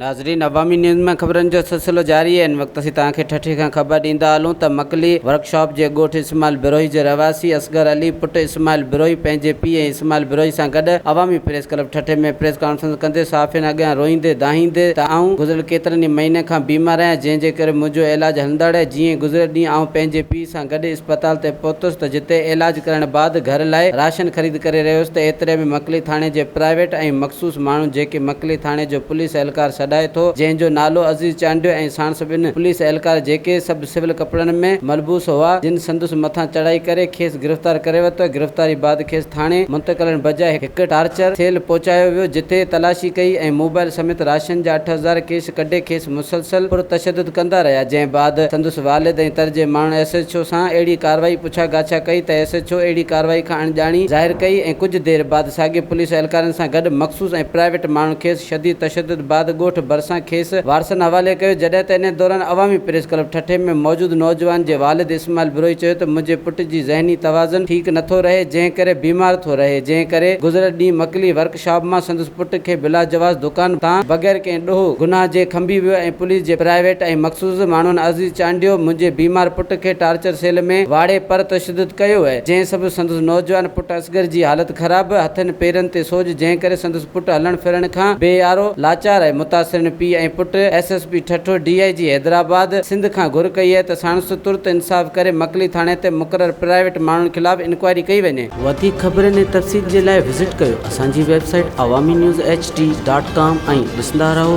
ناظرين عوامي نيوز ۾ خبرن جو سلسلو جاري آهي ان وقت اسين توهان کي ٺٽي کان خبر ڏيندا هلون ته مڪلي ورڪ شاپ جي ڳوٺ اسماعيل بروهي جي رهواسي اصغر علي پٽ اسماعيل بروهي پنهنجي پيء ۽ اسماعيل بروهي سان گڏ عوامي پريس ڪلب ٺٽي ۾ پريس ڪانفرنس ڪندي صحافين اڳيان روئيندي دانهيندي ته آئون گذريل ڪيترن ئي مهينن کان بيمار آهيان جنهن جي ڪري منهنجو علاج هلندڙ آهي جيئن گذريل ڏينهن آئون پنهنجي پيء سان گڏي اسپتال تي پهتس ته جتي علاج ڪرڻ بعد گهر لاء راشن خريد ڪري رهيس ته ايتري ۾ مڪلي ٿاڻي جي پرائيويٽ ۽ مخصوص ماڻهو جيڪي مڪلي ٿاڻي جو پوليس اهلڪار سڏائي ٿو جنهن جو نالو عزيز چانڊيو ۽ ساڻس ٻن پوليس اهلڪار جيڪي سڀ سول ڪپڙن ۾ ملبوس هئا جن سندس مٿان چڙهائي ڪري کيس گرفتار ڪري ورتو گرفتاري بعد کيس ٿاڻي منتقلڻ بجاء هڪ ٽارچر سيل پهچايو ويو جتي تلاشي ڪئي ۽ موبائل سميت راشن جا اٺ هزار ڪيش ڪڍي کيس مسلسل پرتشدد ڪندا رهيا جنهن بعد سندس والد ۽ تر جي ماڻهن ايس ايڇ او سان اهڙي ڪارروائي پڇا ڳاڇا ڪئي ته ايس ايڇ او اهڙي ڪارروائي کان اڻڄاڻي ظاهر ڪئي ۽ ڪجهه دير بعد ساڳئي پوليس اهلڪارن سان گڏ مخصوص ۽ پرائيويٽ ماڻهن کيس شديد تشدد بعد ڳوٺ ڀرسان کيس وارثن حوالي ڪيو جڏهن ته انهي دوران عوامي پريس ڪلب ٺٽي ۾ موجود نوجوان جي والد اسماعيل بروهي چيو ته منهنجي پٽ جي ذهني توازن ٺيڪ نٿو رهي جنهن ڪري بيمار ٿو رهي جنهن ڪري گذريل ڏينهن مڪلي ورڪ شاب مان سندس پٽ کي بلا جواز دڪان تان بغير ڪنهن ڏوهه گناهه جي کنڀي ويو ۽ پوليس جي پرائيويٽ ۽ مخصوص ماڻهن عزيز چانڊيو منهنجي بيمار پٽ کي ٽارچر سيل ۾ واڙي پر تشدد ڪيو وئي جنهن سبب سندس نوجوان پٽ اصغر جي حالت خراب هٿن پيرن تي سوڄ جنهن ڪري سندس پٽ هلڻ ڦرڻ کان بي آرو لاچار آهي متاثرين پيء ۽ پٽ S S P Thatta D I G Hyderabad Sindh کان گهر ڪئي آهي ته ساڻس ترت انصاف ڪري مڪلي ٿاڻي تي مقرر پرائيويٽ ماڻهن خلاف انڪوائري ڪئي وڃي. وڌيڪ خبرن ۽ تفصيل جي لاء وزٽ ڪيو اسان جي website Awami news HD dot ڊاٽ ڪام ۽ ڏسندا رهو.